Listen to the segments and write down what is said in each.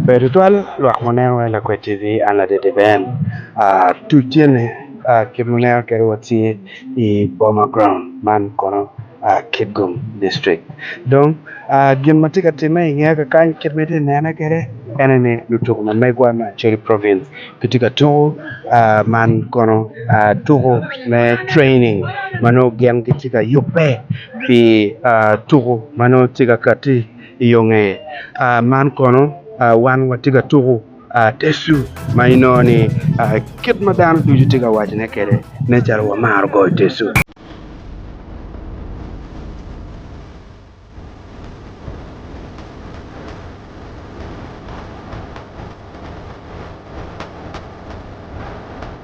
Pe tutwal lwak muneno wai lakwed TV an ladede Ben tuc tye ni kit muneno kede watye i boma ground man kono Kitgum district dong gin matye ka time i nge kakany kit ma itye ka nene kede ene ni lutuku ma megwa me Acholi province gitye ka tuku man kono tuku me training ma nongo gin gitye ka yubbe pi tuku ma nongo tye ka kati i yo ngeye. Man kono wan watye ka tuku tecu ma inongo ni kit ma dano ducu tye ka wacone kwede nen calo wamaro goyo tecu.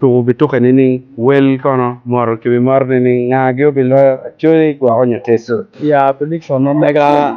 tuko bituke nining? Wel kono moro ki wi mot nining? Nga gi obiloyo acoya i gwoko nyo teso? Ya pi lik pa ma mega.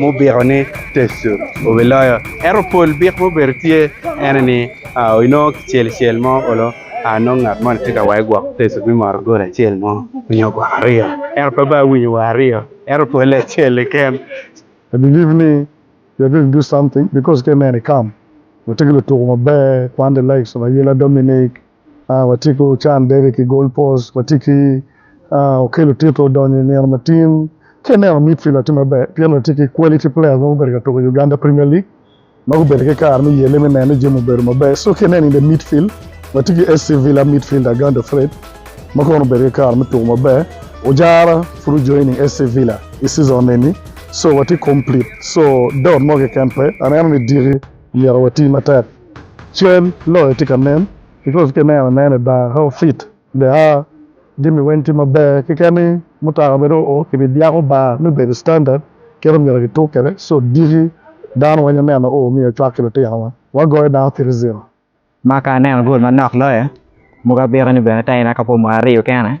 Mubiko ni Tecu obiloyo. Ento pol bik mubedo tye ene ni inongo kicel cel mo olo nongo ngat moni tye ka wayo gwok Tecu me moro gol acel mo nyo gwok aryo ento pe bene awinyo wa aryo ento pole acel keken. I believe ni you're going to do something because ka ineno i camp watye ki lutuku maber, Quande Lakes, Mayela, Dominic, watye ki ocan dede ki Gold Post, watye ki Okello Tito odonyo i nino matin, ka ineno midfielder tye maber pien watye ki quality players ma gubedo ka tuko i Uganda Premier League ma gubedo ki kare me yelle me neno ni jami obedo maber so ka ineno in the midfield watye ki SC Villa midfielder Agando Fred ma kono obedo ki kare me tuko maber, Ojara pud ojoining SC Villa i season eni so watye complete so doubt mo keken pe, aneno ni diki myero wati matek. Cal loyo tye ka nen because ki neno anena i bar how fit they are jami weng tye maber keken ni mutoka bene oo ki bi byako bar me bedo standard kit omyero ki tuk kwede so diki dano weng oneno oo omyero ocwak ki litino wa wa goyo dano three zero. Ma ka aneno goal manok loyo, mogo abito ni bene taina ka pwo mwaka aryo kene.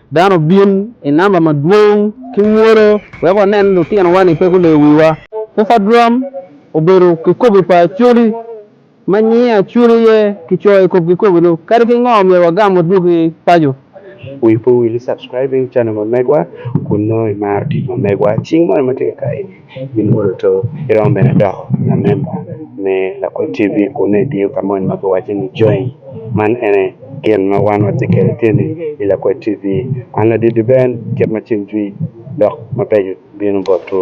Dano obin i namba madwong ki mwolo wek wanen lutinowa-ni pe guleyo wiwa. Pupa Drum obedo kikobi pa Acholi, ma nyinge Acholi aye kicoyo i kom kikobi-nu. Kadi ki ngo, myero wagam wadwogi paco. Wi pe owil i subscribing channel ma megwa kun nongo imaro tic ma megwa. Cing moni ma tye kakayi. Gimwodo to, giromo bene doko lamemba me lakwed TV kun nongo etiyo ka moni ma kiwaco ni Join. Man ene gin ma wan watye kwede tye ni i Lakwed TV. An ladit Duben, kit ma cim jwi dok mabeco bino botwu.